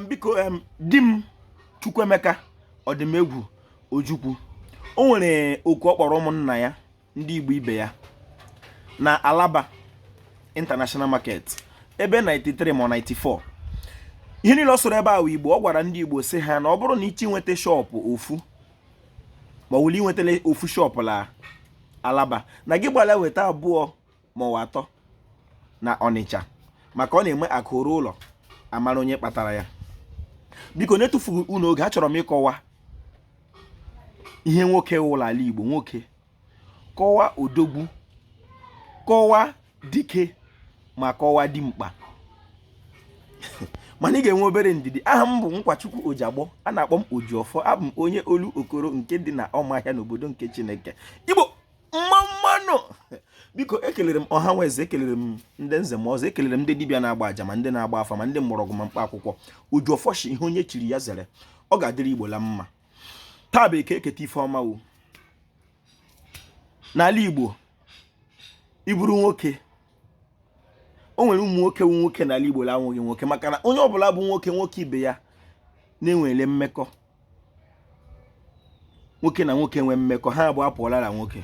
biko di m Chukwuemeka Ọdịmegwu Ojukwu o nwere oku ọ kpọrọ ụmụnna ya ndị Igbo ibe ya na Alaba International Market ebe 93 ma ọ 94 ihe niile ọ sụrụ ebe ahụ Igbo ọ gwara ndị Igbo sị ha na ọ bụrụ na ị chọọ inweta shọpụ ofu ma ọ wụ la i nwetala ofu shọpụ la Alaba na gị gbalịa weta abụọ ma ọ atọ na Ọnịcha maka ọ na-eme akụ ruo ụlọ a mara onye kpatara ya biko na-etufughị unu oge achọrọ m ịkọwa ihe nwoke wụ l'ala Igbo nwoke kọwa odogwu kọwa dike ma kọwa dimkpa mana ị ga-enwe obere ndidi aha m bụ Nkwachukwu Ojiagbọ a na-akpọ m Ojiọfọ abụ m onye Olokoro nke dị na Ọmahịa n'obodo nke Chineke Igbo mmamma nụ biko ekelere m ọha na eze ekelere m ndị nze ma ọzọ ekelere m ndị dibịa na-agba aja ma ndị na-agba afa ma ndị mgbọrọgwụ ma mkpa akwụkwọ Ojiọfọ shị ihe onye chiri ya zere ọ ga-adịrị igbo la mma taa bụ Eke e keta ife ọma wo n'ala igbo ị bụrụ nwoke o nwere ụmụ nwoke wụ nwoke n'ala igbo la awụghị nwoke maka na onye ọbụla bụ nwoke nwoke ibe ya na-enwele mmekọ nwoke na nwoke nwee mmekọ ha abụọ apụọla na nwoke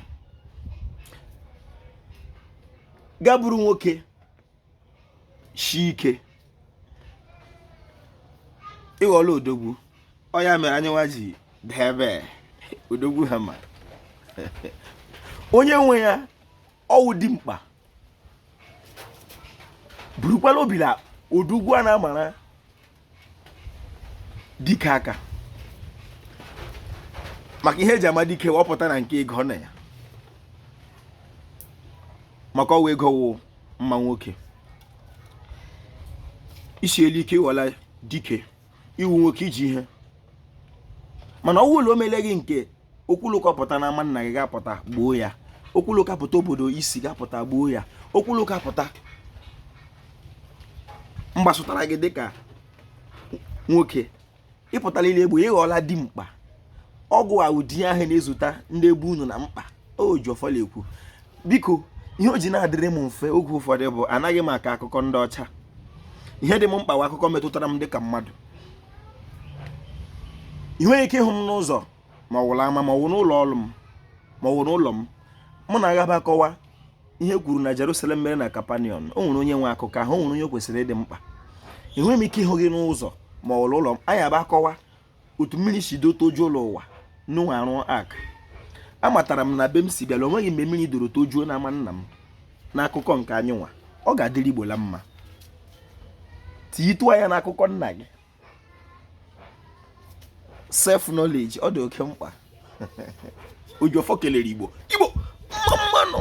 gị abụrụ nwoke shi ike ị ghọọla odogwu ọ ya mere anyị nwa ji debe odogwu ha ma onye nwe ya ọ wụ dimkpa bụrụkwala obila odogwu a na-amara dike aka maka ihe e ji ama dike wepụta na nke ego na ya maka ọ wụ ego wụ mma nwoke i siele ike ị wụla dike ị wụ nwoke i ji ihe mana ọ wụ la o mele gị nke okwu l'ụka pụta n'ama nna gị ga-apụta gboo ya okwu l'ụka pụta obodo i si ga-apụta gboo ya okwu l'ụka pụta gbasatara gị dịka nwoke ị pụtala la-egbo ị ghọọla dimkpa ọ gị wụ di ahụ na-ezuta ndị ebe unu na mkpa Ojiọfọ la-ekwu biko ihe o ji na-adịrị m mfe oge ụfọdụ bụ anaghị m akọ akụkọ ndị ọcha ihe dị m mkpa wụ akụkọ metụtara m dịka mmadụ i nweghị ike ịhụ m n'ụzọ ma ọ wụ l'ama ma ọ wụ n'ụlọ ọrụ m ma ọ wụ n'ụlọ m mụ na gị aba kọwa ihe e kwuru na Jerusalem mere na Capernaum o nwere onye nwe akụkọ ahụ o nwere onye kwesịrị ịdị mkpa enweghị m ike ịhụ gị n'ụzọ ma ọ wụ l'ụlọ m anyị aba kọwa otu mmiri si doo tojuo elu ụwa Noah arụọ ark amatara m na ebe m si bịa la o nweghị mgbe mmiri doro tojuo n'ama nna m n'akụkọ nke anyị nwa ọ ga-adịrị Igbo la mma tiyitụ anya n'akụkọ nna gị self knowledge ọ dị oke mkpa Ojiọfọ kelere Igbo Igbo mma mma nụ